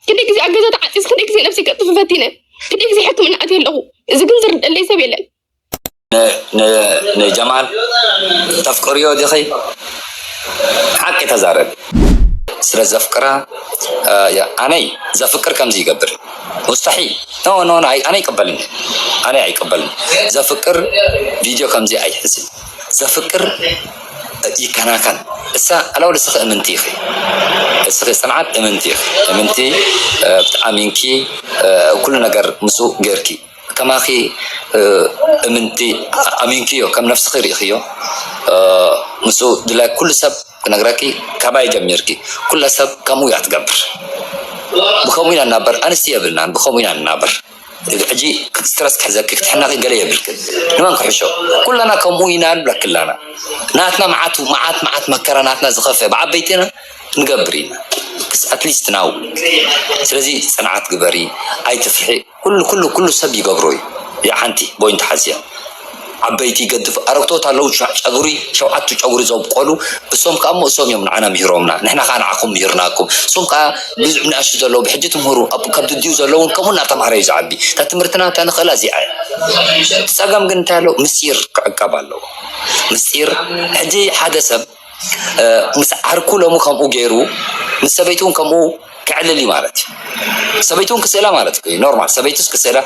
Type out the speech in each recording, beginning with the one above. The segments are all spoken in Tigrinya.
ክንደይ ግዜ ኣብ ገዛ ተዓፂስ ክንደይ ግዜ ነብሲ ቀጥፍ ፈቲነ ክንደይ ግዜ ሕክምና ኣትየ ኣለኹ። እዚ ግን ዝርደለይ ሰብ የለን። ንጀማል ተፍቅርዮ ዲኺ ሓቂ ተዛረቢ። ስለ ዘፍቅራ እያ ኣነይ ዘፍቅር ከምዚ ይገብር ሙስተሒል ኖ ኖ ኣነ ይቅበልን ኣነ ኣይቅበልን ዘፍቅር ቪድዮ ከምዚ ኣይሕዝን ዘፍቅር ይከናኸን እሳ ኣላው ንስኺ እምንቲ ኢኺ ንስኺ ጽንዓት እምንቲ ኢኺ እምንቲ ኣሚንኪ ኩሉ ነገር ምስኡ ጌርኪ ከማኺ እምንቲ ኣሚንክዮ ከም ነፍስኺ ርኢኽዮ ምስኡ ድላይ ኩሉ ሰብ ክነግረኪ ካባይ ጀሚርኪ ኩላ ሰብ ከምኡ እያ ትገብር ብከምኡ ኢና ንናበር ኣንስቲ የብልናን ብከምኡ ኢና ንናበር። ሕጂ ስትረስ ክሕዘኪ ክትሕነቂ ገለ የብልክን ንመን ክሕሾ ኩላና ከምኡ ኢና ንብለኪ ኣላና ናትና መዓት መዓት መዓት መከራ ናትና ዝከፍእ ብ ዓበይትና ንገብር ኢና ኣትሊስት ናው ስለዚ ጽንዓት ግበሪ ኣይትፍርሒ ኩሉ ኩሉ ኩሉ ሰብ ይገብሮ እዩ እዚኣ ሓንቲ ቦይንት ሓዝያ። ዓበይቲ ገድፍ ኣረግቶት ኣለዉ ጨጉሪ ሸውዓቱ ጨጉሪ ዘብቆሉ እሶም ከኣ እሞ እሶም እዮም ንዓና ምሂሮምና ንሕና ከኣ ንዓኹም ምሂርናኩም እሶም ከኣ ብዙሕ ንኣሽቱ ዘለዉ ብሕጂ ትምህሩ ኣብ ከብዲ ድዩ ዘለዉን ከምኡ እናተማህረ እዩ ዝዓቢ እታ ትምህርትና እታ ንኽእላ እዚኣ እቲ ጸገም ግን እንታይ ኣለዎ ምስጢር ክዕቀብ ኣለዎ ምስጢር ሕጂ ሓደ ሰብ ምስ ዓርኩ ሎሚ ከምኡ ጌሩ ምስ ሰበይቱ ውን ከምኡ ከዕልል እዩ ማለት እዩ ሰበይቱ ውን ክስእላ ማለት እዩ ኖርማል ሰበይቱስ ክስእላ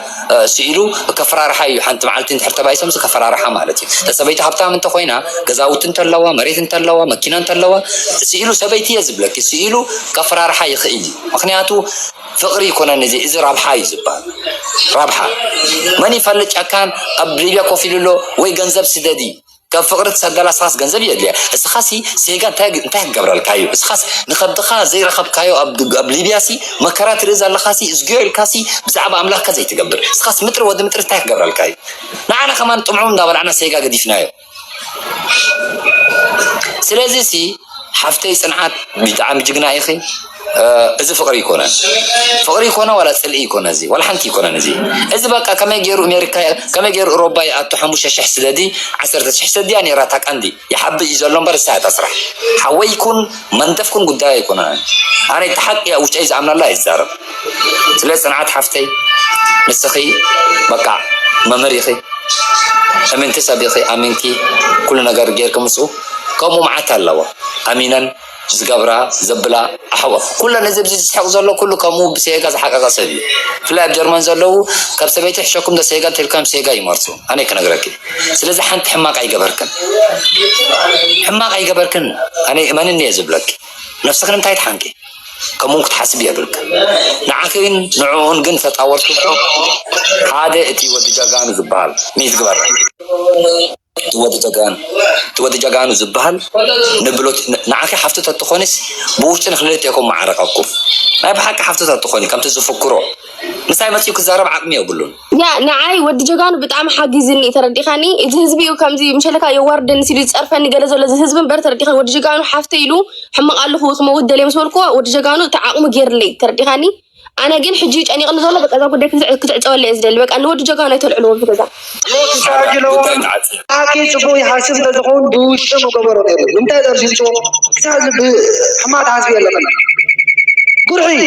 ስኢሉ ከፈራርሓ እዩ ሓንቲ መዓልቲ እንድሕር ተባኢሶምስ ከፈራርሓ ማለት እዩ ሰበይቱ ሃብታም እንተኾይና ገዛውቲ እንተለዋ መሬት እንተለዋ መኪና እንተለዋ ስኢሉ ሰበይቲ እየ ዝብለኪ ስኢሉ ከፈራርሓ ይኽእል እዩ ምክንያቱ ፍቅሪ ይኮነን እዚ እዚ ረብሓ እዩ ዝበሃል ረብሓ መን ይፈልጥ ጨካን ኣብ ሊብያ ኮፍ ኢሉ ኣሎ ወይ ገንዘብ ስደዲ ካብ ፍቅሪ ትሰደላ እስኻስ ገንዘብ የድልያ እስኻሲ ዜጋ እንታይ እንታይ ክገብረልካ እዩ እስኻስ ንከብድኻ ዘይረኸብካዮ ኣብ ኣብ ሊብያሲ መከራ ትርኢ ዘለኻሲ እዝግዮ ኢልካሲ ብዛዕባ ኣምላኽካ ዘይትገብር እስኻስ ምጥሪ ወዲ ምጥሪ እንታይ ክገብረልካ እዩ ንዓና ከማን ጥምዑም እንዳበላዕና ሴጋ ገዲፍናዮ ስለዚሲ ሓፍተይ ጽንዓት ብጣዕሚ ጅግና ኢኺ እዚ ፍቅሪ ኣይኮነን ፍቅሪ ይኮነ ዋላ ጽልኢ ይኮነ እዚ ዋላ ሓንቲ ይኮነን እዚ እዚ በቃ ከመይ ገይሩ ኣሜሪካ ከመይ ገይሩ እሮባ ይኣቱ ሓሙሽተ ሽሕ ስደዲ ዓሰርተ ሽሕ ሰድያ ነይራ እታ ቀንዲ ይሓቢ እዩ ዘሎ እምበር እሳ እታ ስራሕ ሓወይ ይኩን መንደፍ ኩን ጉዳይ ኣይኮነን ኣነ እቲ ሓቂ እያ ውሽጠይ ዝኣምናላ እየ ዝዛረብ ስለ ጽንዓት ሓፍተይ ንስኺ በቃ መምህር ኢኺ እምንቲ ሰብ ኢኺ ኣሚንኪ ኩሉ ነገር ገይርኪ ምስኡ ከምኡ መዓት ኣለዋ ኣሚነን ዝገብራ ዘብላ ኣሕዋ ኩለን እዚ ኣብዚ ዝስሕቅ ዘሎ ኩሉ ከምኡ ብሴጋ ዝሓቀቀ ሰብ እዩ ብፍላይ ኣብ ጀርመን ዘለዉ ካብ ሰበይቲ ይሕሸኩም ዶ ሴጋ እንተልካዮም ሴጋ ይመርጹ ኣነይ ክነግረኪ ስለዚ ሓንቲ ሕማቅ ኣይገበርክን ሕማቅ ኣይገበርክን ኣነይ እመንኒ እየ ዝብለኪ ነብስኪ ንምንታይ ትሓንቂ ከምኡውን ክትሓስቢ የብልክን ንዓኺን ንዕኡን ግን ተጻወትኩም ሓደ እቲ ወዲ ጀጋኑ ዝበሃል ሚት ግበር እቲ ወዲ ጀጋኑ እቲ ወዲ ጀጋኑ ዝብሃል ንብሎት ንዓኺ ሓፍቱ ተትኾንስ ብውሽጢ ንኽልቴኩም ምዓረቀኩም ናይ ብሓቂ ሓፍቱ ተትኾኒ ከምቲ ዝፍክሮ ምሳይ መጺኡ ክዛረብ ዓቅሚ የብሉን ያ ንዓይ ወዲ ጀጋኑ ብጣዕሚ ሓጊዝኒ ተረዲኻኒ እዚ ህዝቢ እዩ ከምዚ ምሸለካ የዋርደኒ ሲሉ ዝጸርፈኒ ገለ ዘሎ እዚ ህዝቢ እምበር ተረዲኻኒ ወዲ ጀጋኑ ሓፍተ ኢሉ ሕማቅ ኣለኹ ክመውት ደልየ ምስ በልኩዎ ወዲ ጀጋኑ እቲ ዓቅሙ ገይርለይ ተረዲኻኒ ኣነ ግን ሕጂ ጨኒቕኒ ዘሎ በቃ እዛ ጉዳይ ክትዕፀወለ እየ ዝደሊ በቃ ንወዲ ጀጋኑ ኣይተልዕልዎ እዚ ገዛ ኣኪ ፅቡቅ ይሓስብ እንተዝኸውን ብውሽጢ ምገበሮ ነይሩ ንምንታይ ዘርዚንቶ ክሳብ ሕማቅ ትሓስቢ ኣለኺ ጉርሒ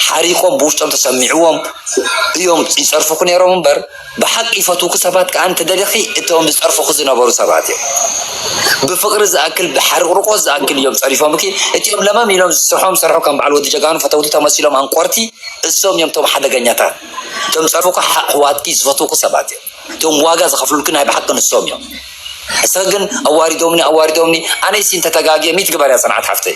ሓሪቆም ብውሽጦም ተሰሚዕዎም እዮም ይፀርፍኹ ነይሮም እምበር ብሓቂ ይፈትውኪ ሰባት ከኣ እንተደሊኺ እቶም ዝጸርፉኺ ዝነበሩ ሰባት እዮም ብፍቅሪ ዝኣክል ብሓርቅርቆት ዝኣክል እዮም ጸሪፎምኪ እቲኦም ለመም ኢሎም ዝስርሖም ሰርሑ ከም በዓል ወዲ ጀጋኑ ፈተውቲ ተመሲሎም ኣንቆርቲ እሶም እዮም እቶም ሓደገኛታት እቶም ዝጸርፉኪ ኣሕዋትኪ ዝፈትውኪ ሰባት እዮም እቶም ዋጋ ዝኸፍሉልኪ ናይ ብሓቂ ንሶም እዮም እስኺ ግን ኣዋሪዶምኒ ኣዋሪዶምኒ ኣነይሲ እንተተጋግየ ሚት ግበርያ ጽንዓት ሓፍተይ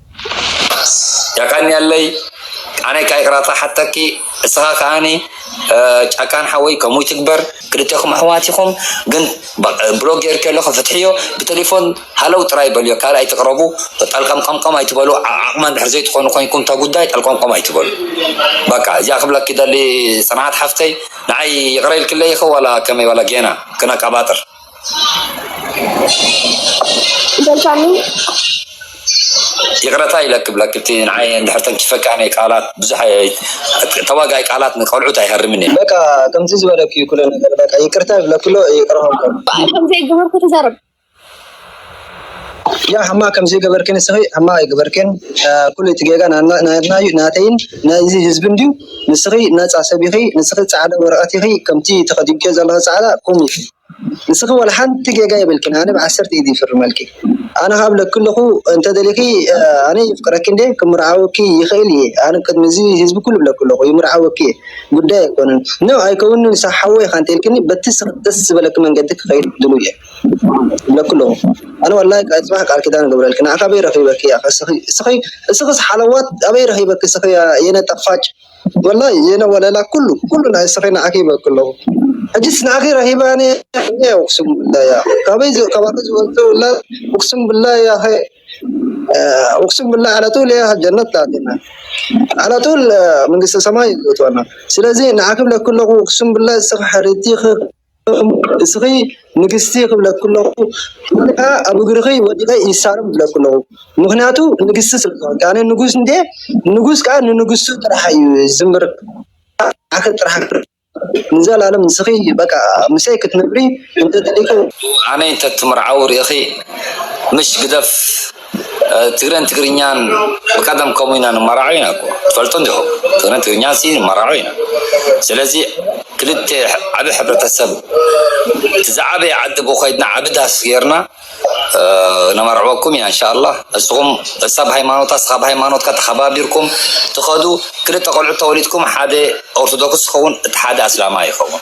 የቀንየለይ ኣነይ ካኣ ይቅራታ ክሓተኪ ንስካ ካኣኒ ጫካን ሓወይ ከምኡ ይትግበር ክልቴኩም ኣሕዋት ኢኩም ግን ብሎክ ጌርኪዮ ኣለኩ ፍትሕዮ ብተሌፎን ሃለው ጥራይ በልዮ ካልእ ኣይትቅረቡ ጠልቀምቀምቀም ኣይትበሉ ዓቅሚ እንድሕር ዘይትኮኑ ኮይንኩም እታ ጉዳይ ጠልቀምቀም ኣይትበሉ በቃ እዚኣ ክብለኪ ይደሊ ፅንዓት ሓፍተይ ንዓይ ይቅረ ኢልክለይ ኢኪ ዋላ ከመይ ዋላ ጌና ክነቃባጥር። በልካኒ ይቅረታ ኢለኪ ብለኪ እቲ ንዓይ እንድሕር ተንኪፈኪ ኣነ ቃላት ብዙሕ ተዋጋኢ ቃላት ንቆልዑት ኣይሀርምን እየ። በቃ ከምዚ ዝበለኪ እዩ ኩሉ ነገር በቃ ይቅርታ ይብለኪ ኣሎ ይቅረ ክብለኪ ኣሎ። ብኣይ ከምዘይገበርኩ ትዛረብ። ያእ ሕማቅ ከምዘይገበርኪ ንስኺ ሕማቅ ኣይገበርክን ኩሉ እቲ ጌጋ ናትና እዩ ናተይን ናይዚ ህዝብን ድዩ ንስኺ ናጻ ሰብ ኢኺ ንስኺ ጻዕዳ ወረቀት ኢኺ ከምቲ ተከዲንክዮ ዘለኺ ጻዕዳ ቁም ኢኺ ንስኺ ዋላ ሓንቲ ጌጋ የብልክን ኣነ ብዓሰርተ ኢድ ይፍርመልኪ ኣነ ከኣ እብለኪ ኣለኹ እንተደሊኺ ኣነ የፍቅረኪ እንዴ ክምርዓወኪ ይኽእል እየ ኣነ ቅድሚ እዚ ህዝቢ ኩሉ እብለኪ ኣለኹ ይምርዓወኪ እየ ጉዳይ ኣይኮነን ን ኣይከውንን ንስኺ ሓወይ ኢኻ እንተልክኒ በቲ ንስኺ ደስ ዝበለኪ መንገዲ ክኸይድ ድሉው እየ። ለክሎ ኣነ ዋላ ፅባሕ ቃል ኪዳን እገብረልኪ ንዓኺ ኣበይ ረኺበኪ ያኸ እስኺ እስኺ እስኽስ ሓለዋት ኣበይ ረኺበኪ እስኺ የነ ጣፋጭ ወላሂ የነ ወለላ ኩሉ ኩሉ ናይ እስኺ ንዓኺ ይበኪ ኣለኹ ሕጂስ ንዓኺ ረኺበ ኣነ እየ ኡቅስም ብላ ያኸ ካበይ ካባኺ ዝወልደ ውላድ ኡቅስም ብላ ያኸ ኡቅስም ብላ ዓላ ጡል እያ ጀነት ላትና ዓላ ጡል መንግስተ ሰማይ ዝእትወና ስለዚ ንዓኺ ብለኪ ኣለኹ ኡቅስም ብላ እስኺ ሕርትይኺ እስኺ ንግስቲ ክብለኪ ኣለኹ ወይ ከዓ ኣብ እግርኺ ወዲቐ ይሳለም ክብለኪ ኣለኹ። ምኽንያቱ ንግስቲ ስለ ዝኾንኪ ኣነ ንጉስ እንድየ ንጉስ ከዓ ንንግስቱ ጥራሕ እዩ ዝምርፅ ንዓኺ ጥራሕ ኣይምርፅን ንዘላለም ንስኺ በቃ ምሰይ ክትነብሪ እንተደሊኺ እወ ኣነይ እንተትምርዓው ሪኢኺ ምሽ ግደፍ። ትግረን ትግርኛን ብቀደም ከምኡ ኢና ንመራዖ ኢና እኮ ትፈልጡ እንዲኹም ትግረን ትግርኛ ሲ ንመራዖ ኢና ስለዚ ክልተ ዓብ ሕብረተሰብ እቲ ዝዓበየ ዓዲ ብኮይድና ዓብ ዳስ ጌርና ነመርዕወኩም ኢና እንሻላ እስኹም እሳብ ሃይማኖታ እስኻብ ሃይማኖትካ ተኸባቢርኩም ትኸዱ ክልተ ቆልዑት ተወሊድኩም ሓደ ኦርቶዶክስ ይኸውን እቲ ሓደ ኣስላማይ ይኸውን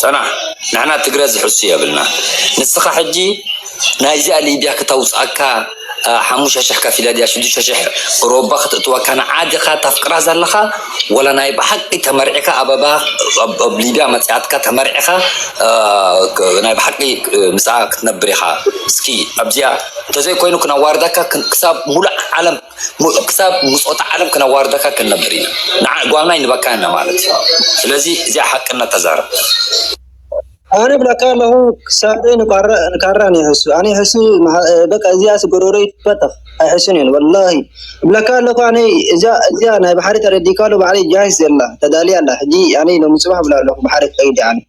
ፅናሕ ንሕና ትግረ ዝሕሱ የብልና ንስካ ሕጂ ናይ እዚኣ ሊብያ ክተውፀኣካ ሓሙሽተ ሽሕ ከፊለ ድያ ሽዱሽተ ሽሕ እሮባ ክተእትወካ ንዓ ዲካ ተፍቅራ ዘለካ ወላ ናይ ብሓቂ ተመርዕካ ኣበባ ኣብ ሊብያ መፅኣትካ ተመርዕካ ናይ ብሓቂ ምስኣ ክትነብር ኢካ እስኪ ኣብዚኣ እንተዘይኮይኑ ክነዋርደካ ክሳብ ሙሉእ ዓለም ምሉእ ክሳብ ምጾት ዓለም ክነዋርደካ ክንነብር ኢና ንዓ ጓና ይንበካ እና ማለት እዩ ስለዚ እዚኣ ሓቅነት ተዛረብ። ኣነ እብለካ ኣለኹ ክሳደይ ንካራ ንይሕሱ ኣንይሕሱ በቃ እዚኣስ ጎሮሮይ ትትፈተኽ ኣይሕሱን እየን ወላሂ እብለካ ኣለኹ ኣነ እዚኣ ናይ ባሕሪ ተረዲእካ ኣሎ ባዕለይ ጃሂዝ ዘላ ተዳልያ ኣላ ሕጂ ኣነ ሎሚ ጽባሕ እብላ ኣለኹ ባሕሪ ክኸይድ እየ ኣነ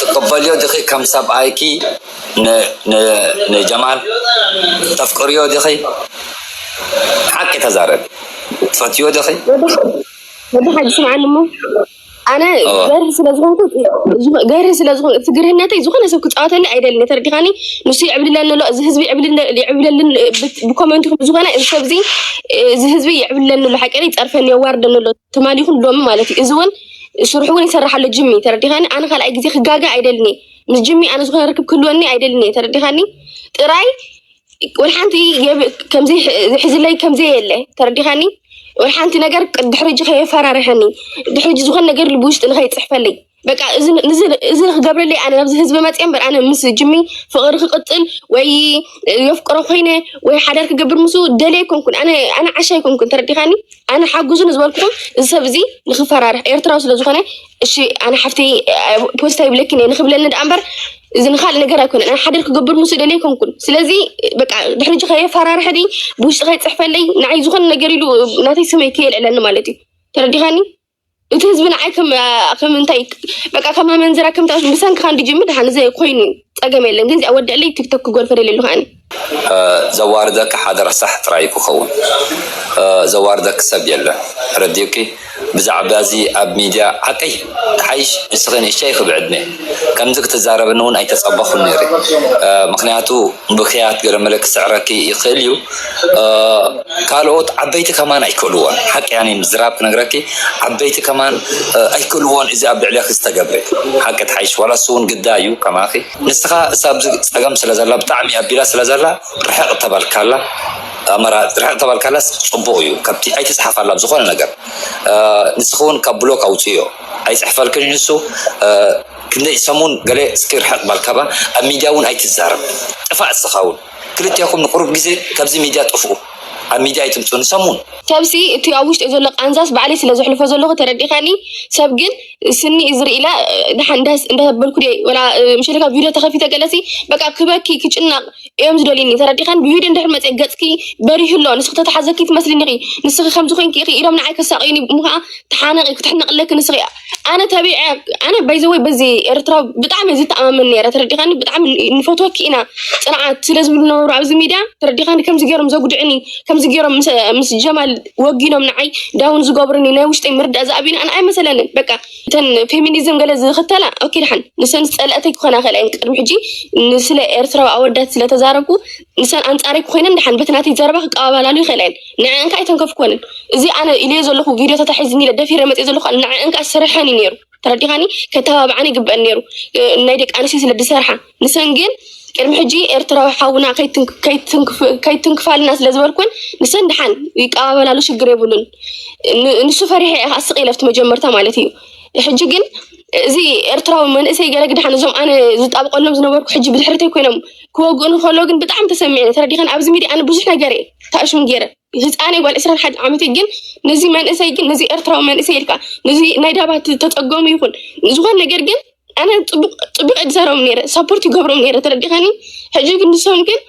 ትቅበልዮ ዲኺ ከም ሰብኣይኪ ንጀማል ተፍቅርዮ ዲኺ ሓቂ ተዛረቢ ትፈትውዮ ዲኺ። ወዲ ሓጂ ስምዓኒ እሞ። ኣነ ገር ስለዝኮንኩ ገር ስለዝኮ እቲ ግርህነተይ ዝኮነ ሰብ ክፃወተኒ ኣይደልን ተረዲኻኒ ንሱ ይዕብልለኒ ኣሎ እዚ ህዝቢ ይዕብለልን ብኮመንትኩም ዝኮነ እዚ ሰብዚ እዚ ህዝቢ ይዕብልለኒ ኣሎ ሓቂ ይፀርፈኒ የዋርደኒ ኣሎ ትማሊኹም ሎሚ ማለት እዩ እዚ እውን ስርሑ እውን ይሰርሕ ኣሎ ጅሚ ተረዲኻኒ ኣነ ካልኣይ ግዜ ክጋገ ኣይደልኒ ምስ ጅሚ ኣነ ዝኮነ ርክብ ክህልወኒ ኣይደልኒ ተረዲኻኒ ጥራይ ወል ሓንቲ ከምዚ ዝሕዝለይ ከምዘ የለ ተረዲኻኒ ወል ሓንቲ ነገር ድሕሪ ጂ ከየፈራርሐኒ ድሕሪ ጂ ዝኾን ነገር ልቢ ውሽጢ ንኸይፅሕፈለይ በቃ እዚ ክገብረለይ ኣነ ናብዚ ህዝቢ መፅ እምበር ኣነ ምስ ጅሚ ፍቕሪ ክቅፅል ወይ የፍቅሮ ኮይነ ወይ ሓዳር ክገብር ምስ ደለ ኣይኮንኩን ኣነ ዓሻ ኣይኮንኩን ተረዲኻኒ ኣነ ሓጉዙ ንዝበልኩኹም እዚ ሰብ እዚ ንክፈራርሕ ኤርትራዊ ስለዝኾነ እሺ ኣነ ሓፍተይ ፖስታ ይብለኪ ነ ንክብለኒ ደኣ እምበር እዚ ንካልእ ነገር ኣይኮነን ኣነ ሓደር ክገብር ምስ ደለይ ኮንኩን ስለዚ በቃ ድሕሪ ጂ ከየፈራርሐኒ ብውሽጢ ከይፅሕፈለይ ንዓይ ዝኾነ ነገር ኢሉ ናተይ ስመይ ከየልዕለኒ ማለት እዩ ተረዲኻኒ እቲ ህዝቢ ንዓይ ከም እንታይ በቃ ከም ኣመንዝራ ከምታ ብሰንክካ እንድጅምር ድሓን እዚ ኮይኑ ፀገም የለን ግን እዚኣ ወድዕለይ ቲክቶክ ክጎርፈ ደለሉ ከዓኒ ዘዋርደኪ ሓደ ረሳሕ ጥራይ እዩ ክከውን ዘዋርደኪ ሰብ የለን ረዲኡኪ ብዛዕባ እዚ ኣብ ሚድያ ዓቀይ ትሓይሽ ንስኪ ንእሽተይ ኢኪ ብዕድመ ከምዚ ክትዛረብኒ ውን ኣይተጸበኩን ነይረ ምክንያቱ ብክያት ገለመለ ክስዕረኪ ይክእል እዩ ካልኦት ዓበይቲ ከማን ኣይክእልዎን ሓቂ ኣነ ምዝራብ ክነግረኪ ዓበይቲ ከማን ኣይክእልዎን እዚ ኣብ ልዕሌኪ ዝተገብረ ሓቂ ትሓይሽ ዋላ ንሱ ውን ግዳ እዩ ከማኪ ንስኻ ኣብዚ ጸገም ስለ ዘላ ብጣዕሚ ኣቢላ ስለ ዘላ ርሕቅ ተበልካላ ኣመራ ርሕቅ ተበልካላስ ጽቡቅ እዩ ካብቲ ኣይትጽሓፋላ ዝኾነ ነገር ንስኺ ውን ካብ ብሎክ ኣውጽዮ ኣይጽሕፈልክን ንሱ ክንደይ ሰሙን ገለ እስኪ ርሕቅ በል ካባ ኣብ ሚድያ ውን ኣይትዛረብ ጥፋእ እስኻ ውን ክልቴኹም ንቁሩብ ግዜ ካብዚ ሚድያ ጥፍኡ ኣብ ሚድያ ኣይትምጽኡ ንሰሙን ሰብሲ እቲ ኣብ ውሽጢ ዘሎ ቃንዛስ ባዕለይ ስለ ዘሕልፎ ዘለኹ ተረዲካኒ ሰብ ግን ስኒ እዝሪ ኢለ ድሓን እንዳበልኩ ድየ ወላ ምሸትካ ቪድዮ ተኸፊተ ገለሲ በቃ ክበኪ ክጭናቕ እዮም ዝደልዩኒ ተረዲኸን ብቪድዮ እንድሕር መፀ ገፅኪ በሪሁ ኣሎ ንስኺ ተተሓዘኪ ትመስልኒ ኢኺ ንስኺ ከምዚ ኮንኪ ኢኺ ኢሎም ንዓይ ከሳቕዩኒ እሞ ከዓ ተሓነቂ ክትሕነቕለኪ ንስኺ ኣነ ተቢዐ ኣነ ባይዘወይ በዚ ኤርትራ ብጣዕሚ እየ ዝተኣማመን ነረ ተረዲኸኒ ብጣዕሚ ንፈትወኪ ኢና ፅንዓት ስለ ዝብሉ ነበሩ ኣብዚ ሚድያ ተረዲኸኒ ከምዚ ገይሮም ዘጉድዕኒ ከምዚ ገይሮም ምስ ጀማል ወጊኖም ንዓይ ዳውን ዝገብሩኒ ናይ ውሽጠይ ምርዳእ ዝኣብዩኒ ኣነ ኣይመሰለንን በቃ እተን ፌሚኒዝም ገለ ዝኽተላ ኦኬ ድሓን ንሰን ዝፀለእተይ ክኾና ክእል እየን ቅድሚ ሕጂ ንስለ ኤርትራዊ ኣወዳት ስለተዛረብኩ ንሰን ኣንፃረይ ክኮይነን ድሓን በቲ ናተይ ዘረባ ክቀባበላሉ ይኽእላ እየን ንዐን ከዓ ኣይተንከፍኮንን እዚ ኣነ ኢልዮ ዘለኹ ቪዲዮታት ኣሒዝኒ ኢለ ደፊረ መፅእ ዘለኹ ንዐን ከዓ ስርሐን እዩ ነይሩ ተረዲኻኒ ከተባብዓኒ ይግበአን ነይሩ ናይ ደቂ ኣንስትዮ ስለ ዝሰርሓ ንሰን ግን ቅድሚ ሕጂ ኤርትራዊ ሓውና ከይትንክፋልና ስለ ዝበልኩን ንሰን ድሓን ይቀባበላሉ ሽግር የብሉን ንሱ ፈሪሐ እየ ከዓ ስቅ ኢለፍቲ መጀመርታ ማለት እዩ ሕጂ ግን እዚ ኤርትራዊ መንእሰይ ገለ ግድሓን እዞም ኣነ ዝጣብቀሎም ዝነበርኩ ሕጂ ብድሕርተይ ኮይኖም ክወግኡን ከሎ ግን ብጣዕሚ ተሰሚዐ ተረዲኸን ኣብዚ ሚዲያ ኣነ ብዙሕ ነገር እየ ተኣሽም ገይረን ህፃነይ ጓል ዕስራን ሓደን ዓመተይ ግን ነዚ መንእሰይ ግን ነዚ ኤርትራዊ መንእሰይ ኢልካ ነዚ ናይ ዳባት ተፀገሙ ይኹን ዝኾን ነገር ግን ኣነ ፅቡቅ እድዘረም ነረ ሰፖርት ይገብሮም ነረ ተረዲኸኒ ሕጂ ግን ንሶም ግን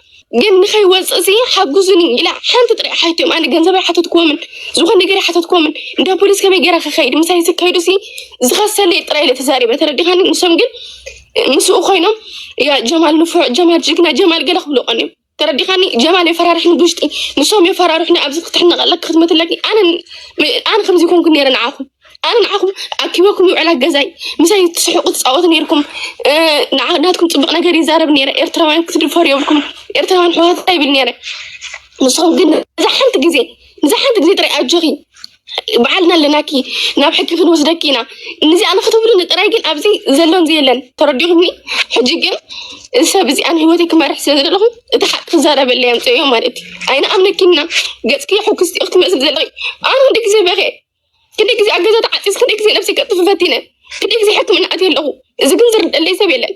ግን ንኸይወፅእ ሲ ሓጉዙኒ ኢላ ሓንቲ ጥሪ ሓትዮም ኣነ ገንዘብ ኣይሓተትክዎምን ዝኾን ነገር ኣይሓተትክዎምን እንዳ ፖሊስ ከመይ ገይራ ክኸይድ ምሳይ ዝከይዱ ሲ ዝኸሰለይ ጥራይ ኢለ ተዛሪበ ተረዲኸኒ ንሶም ግን ምስኡ ኮይኖም ያ ጀማል ንፉዕ ጀማል ጅግና ጀማል ገለ ክብሉ ቀንዮም ተረዲኻኒ ጀማል የፈራርሕኒ ብውሽጢ ንሶም የፈራርሑኒ ኣብዚ ክትሕነቀለኪ ክትመትለኪ ኣነ ኣነ ከምዚ ኮንኩ ነይረ ንዓኹም ኣነ ንዓኹም ኣኪበኩም ይውዕላ ገዛይ ምሳይ ትስሕቁ ትፃወቱ ነይርኩም ናትኩም ፅቡቅ ነገር ይዛረብ ነይረ ኤርትራውያን ክትድፈሩ የብልኩም ኤርትራውያን ሕዋትታ ይብል ነይረ ንስኹም ግን ንዛ ሓንቲ ግዜ ንዛ ሓንቲ ግዜ ጥራይ ኣጆኺ ባዓልና ኣለናኪ ናብ ሕጊ ክንወስደኪ ኢና ንዚኣ ንክትብሉኒ ጥራይ ግን ኣብዚ ዘሎን ዘየለን ተረዲኹም ሕጂ ግን ሰብ እዚኣን ሂወተይ ክመርሕ ስለ ዘለኹ እቲ ሓቂ ክዛረበለ የምፅዮ ማለት እዩ ኣይንኣምነኪና ገፅኪ ሕጉስቲ ክትመስል ዘለኺ ኣነ ክንደ ግዜ በኸ ክንደ ግዜ ኣገዛ ተዓፂስ ክንደ ግዜ ነብሲ ከጥፍ ፈቲነ ክንደ ግዜ ሕክምና ኣትየ ኣለኹ እዚ ግን ዝርደለይ ሰብ የለን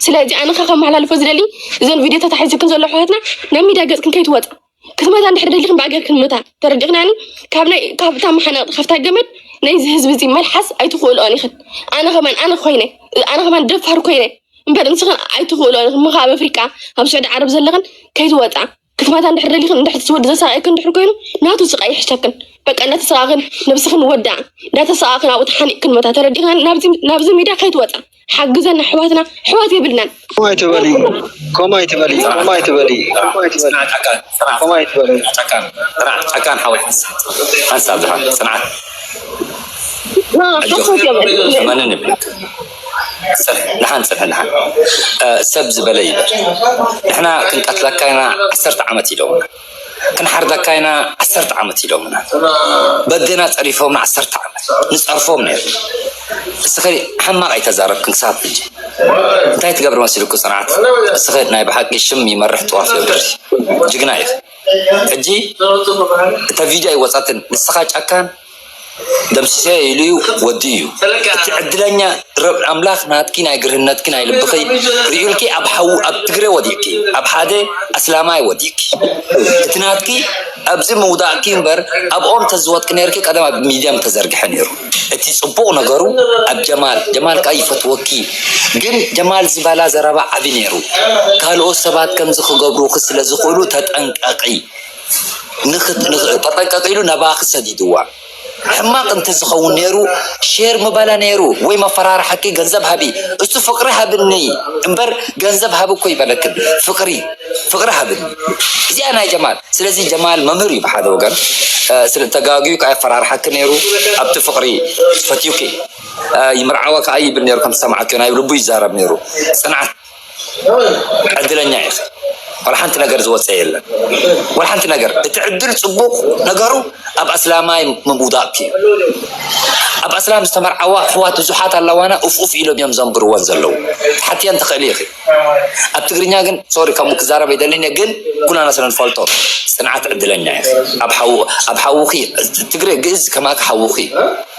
ስለዚ ኣነ ከ ከመሓላልፎ ዝደሊ እዘን ቪድዮ ተታሒዝክን ዘሎ ኣሕዋትና ናብ ሚድያ ገፅክን ከይትወፃ ክትመታ እንድሕር ደሊክን ብኣገርክን ምታ ተረዲኽናኒ ካብታ መሓናቕጢ ካብታ ገመድ ናይዚ ህዝቢ እዚ መልሓስ ኣይትኽእልኦን ኢኽን ኣነ ከማን ኣነ ኮይነ ኣነ ከማን ደፋር ኮይነ እምበር ንስኽን ኣይትኽእልኦን ኢኽን ምኻ ኣብ ኣፍሪቃ ኣብ ስዑዲ ዓረብ ዘለኽን ከይትወፃ ክትባታ እንድሕር ደሊኽን እንድሕር እቲ ወዲ ዘሰቃየክን እንድሕር ኮይኑ ናቱ ስቃይ ይሕሸክን በቃ እንዳተሰቃክን ነብስክን ወድኣ እንዳተሰቃክን ኣብኡ ተሓኒቅክን መታ ተረዲእና ናብዚ ሚድያ ከይትወፃ ሓግዘና ኣሕዋትና ኣሕዋት የብልናን ከምኡ ኣይትበሊ ከምኡ ኣይትበሊ ከምኡ ኣይትበሊ ከምኡ ኣይትበሊ ፅንዓት ጨካን ፅንዓት ከምኡ ኣይትበሊ ጨካን ፅንዓት ጨካን ሓወይ ሓንሳብ ድሓን ፅንዓት ና ሓሶት የብዕል ተመንን ይብለክ ደሓን ጽንሕ ደሓን ሰብ ዝበለ ይበል ንሕና ክንቀትለካ ኢና ዓሰርተ ዓመት ኢሎምና ክንሓርደካ ኢና ዓሰርተ ዓመት ኢሎምና በግና ጸሪፎምና ዓሰርተ ዓመት ንጸርፎም ነርና እስኺ ሕማቕ ኣይተዛረብክን ክሳብ ሕጂ እንታይ ትገብሪ መሲሉኪ ጽንዓት እስኺ ናይ ብሓቂ ሽም ይመርሕ ጥዋፍ የብርህ ጅግና ኢኺ ሕጂ እታ ቪድዮ ኣይወጻትን ንስኻ ጫካን ደምስሰዮ ኢሉዩ ወዲኡዩ እቲ ዕድለኛ ርብ ኣምላክ ናትኪ ናይ ግርህነትኪ ናይ ልብኪ ሪኡልኪ ኣብ ሓዊ ኣብ ትግረ ወዲቅኪ ኣብ ሓደ ኣስላማይ ወዲቅኪ እቲ ናትኪ ኣብዚ ምውዳቅኪ እምበር ኣብ ኦም ተዝወድቂ ነርኪ ቀደም ኣብ ሚድያ ምተዘርግሐ ነሩ እቲ ጽቡቅ ነገሩ ኣብ ጀማል ጀማል ከኣ ይፈትወኪ ግን ጀማል ዝበላ ዘረባ ዓቢ ነሩ ካልኦት ሰባት ከምዚ ክገብሩኪ ስለዝክእሉ ተጠንቀቂ ንክትጠንቀቅ ኢሉ ናባኪ ሰዲድዋ ሕማቅ እንተዝከውን ነይሩ ሼር ምበላ ነይሩ ወይ መፈራርሓኪ ገንዘብ ሃቢ እሱ ፍቅሪ ሃብኒ እምበር ገንዘብ ሃቢ እኮ ይበለክን ፍቅሪ ፍቅሪ ሃብኒ እዚኣ ናይ ጀማል ስለዚ ጀማል መምህር እዩ ብሓደ ወገን ስለ ተጋግዩ ከዓ የፈራርሓኪ ነይሩ ኣብቲ ፍቅሪ ፈትዩኪ ይምርዓዋ ከዓ ይብል ነይሩ ከም ሰማዕኪ ናይ ልቡ ይዛረብ ነይሩ ፅንዓት ዕድለኛ ኢኻ ዋላ ሓንቲ ነገር ዝወፀ የለን ዋላ ሓንቲ ነገር እቲ ዕድል ፅቡቕ ነገሩ ኣብ ኣስላማይ ምውዳቕ እዩ ኣብ ኣስላም ዝተመርዓዋ ኣሕዋት ብዙሓት ኣለዋና ኡፍ ኡፍ ኢሎም እዮም ዘንብርወን ዘለዉ ሓትየን ትኽእሊ ኢኺ ኣብ ትግርኛ ግን ሶሪ ከምኡ ክዛረብ ኣይደልን እየ ግን ኩላና ስለ ንፈልጦ ፅንዓት ዕድለኛ ኢኺ ኣብ ሓውኺ ትግረ ግእዝ ከማኪ ሓውኺ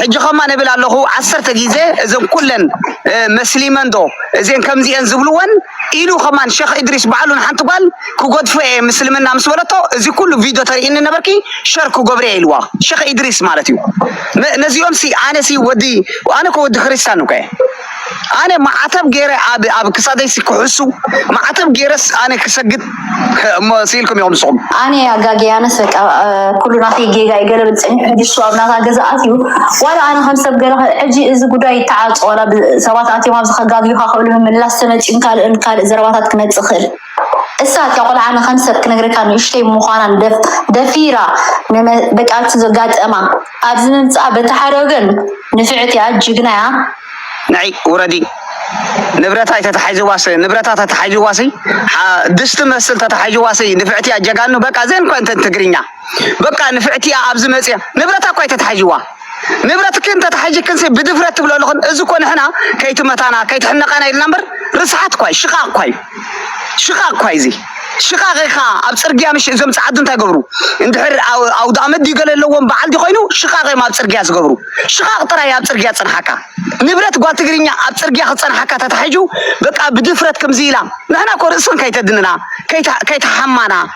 ሕጂ ከማን እብል ኣለኹ ዓሰርተ ግዜ እዘን ኩለን መስሊመን ዶ እዘን ከምዚ እየን ዝብልወን ኢሉ ከማን ሸኽ እድሪስ ባዕሉ ንሓንቲ ጓል ክጎድፎ እየ ምስልምና ምስ በለቶ እዚ ኩሉ ቪድዮ ተርእኒ ነበርኪ ሸር ክገብሮ እየ ኢልዋ ሸኽ እድሪስ ማለት እዩ ነዚኦም ሲ ኣነ ሲ ወዲ ኣነ እኮ ወዲ ክርስቲያን እኮ እየ ኣነ ማዕተብ ገይረ ኣብ ኣብ ክሳደይ ሲ ክሕሱ ማዕተብ ገይረስ ኣነ ክሰግድ እሞ ስኢልኩም ኢኹም ንስኹም ኣነ ኣጋጊያነስ በቃ ኩሉ ናተይ ጌጋ እዩ ገለ ብል ፀኒሑ ሕጂ እሱ ኣብ ናታ ገዛ ኣትዩ ዋላ ኣነ ከም ሰብ ገለ ሕጂ እዚ ጉዳይ ይተዓፆ ዋላ ሰባት ኣትዮም ኣብዚ ከጋግዩካ ክእሉ ምምላስ ተመፅዩን ካልእን ካልእ ዘረባታት ክመፅእ ክእል እሳ እታ ቆልዓ ንከም ሰብ ክነግረካ ንእሽተይ ምኳና ደፊራ በቃ እቲ ዘጋጠማ ኣብዚ ምምፃኣ በቲ ሓደ ወገን ንፍዕቲ እያ ጅግና እያ ንዒ ውረዲ ንብረታ ኣይተታሓይዝዋስ ንብረታ ተታሓይዝዋሲ ድስቲ መስል ተታሓይዝዋሲ ንፍዕቲ እያ ጀጋኑ በቃ ዘን እኳ እንተን ትግርኛ በቃ ንፍዕቲ እያ ኣብዚ መፅያ ንብረታ እኳ ኣይተታሓዥዋ ንብረትክን ተታሓዥክን ብድፍረት ትብሎ ኣለኹን እዚ እኮ ንሕና ከይትመታና ከይትሕነቃና ኢልና እምበር ርስሓት እኳ እዩ ሽቃቅ እኳ እዩ ሽቃቅ እኳ እዩ እዚ ሽቃቅ ኢኻ ኣብ ፅርግያ ምሽ እዞም ፀዓዱ እንታይ ገብሩ እንድሕር ኣውደ ኣመት ድዩ ገለ ኣለዎም በዓል ድዩ ኮይኑ ሽቃቅ እዮም ኣብ ፅርግያ ዝገብሩ ሽቃቅ ጥራይ ኣብ ፅርግያ ፅንሓካ ንብረት ጓል ትግርኛ ኣብ ፅርግያ ክፀንሓካ ተታሓዡ በቃ ብድፍረት ከምዚ ኢላ ንሕና እኮ ርእስን ከይተድንና ከይተሓማና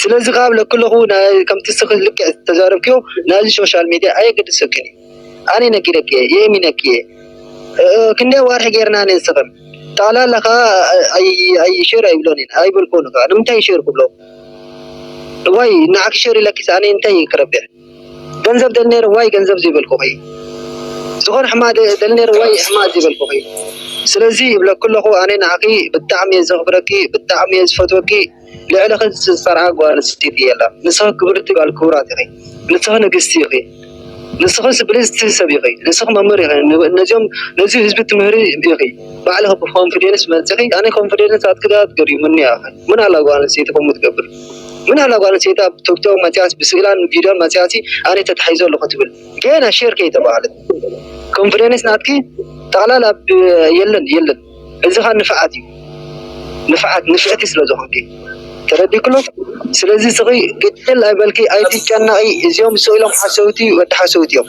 ስለዚ ካብ ለክለኹ ከምቲ እስኺ ልክዕ ዝተዛረብክዮ ናይዚ ሾሻል ሜድያ ኣየገድሰክን እዩ ኣነ ነጊረኪ እየ የእሚነኪ እየ ክንደይ ዋርሒ ጌርና ንስኽን ጠቕላላ ከኣ ኣይ ሸር ኣይብሎን እየን ኣይበልክዎን ከኣ ንምንታይ ሸር ክብሎ እዋይ ንዓኪ ሸር ኢለኪስ ኣነ እንታይ እየ ክረብሕ ገንዘብ ደሊ ነይረ ዋይ ገንዘብ ዘይበልኩኺ ዝኾነ ሕማቅ ደሊ ነይረ ዋይ ሕማቅ ዘይበልኩኺ ስለዚ ይብለኪ ኣለኹ ኣነ ንዓኺ ብጣዕሚ እየ ዘኽብረኪ ብጣዕሚ እየ ዝፈትወኪ ልዕልኺ ዝፀርዓ ጓል ኣንስተይቲ የላን ንስኺ ክብርቲ ጓል ክቡራት ኢኺ ንስኺ ንግስቲ ኢኺ ንስኺ ብልፅቲ ሰብ ኢኺ ንስኺ መምህር ኢኺ ነዚኦም ነዚ ህዝቢ ትምህሪ ኢኺ ባዕልኺ ብኮንፊደንስ መፂኺ ኣነ ኮንፊደንስ ኣትክዳ ትገሪሙኒ ኢኺ ምን ኣላ ጓል ኣንስተይቲ ከምኡ ትገብር ግን ኣላ ጓል ኣንስተይቲ ኣብ ቶክቶክ መጽያስ ብስእላን ቪድዮን መጽያሲ ኣነ ተታሒዘ ኣለኹ ትብል ገና ሼር ከይተባህለት ኮንፊደንስ ናትኪ ጠቕላላ የለን የለን እዚ ኸኣ ንፍዓት እዩ ንፍዓት ንፍዕቲ ስለ ዝኾንኪ ተረዲክሎ ስለዚ ስኺ ግጥል ኣይበልኪ ኣይትጨነቂ እዚኦም ስኢሎም ሓሰውቲ ወዲ ሓሰውቲ እዮም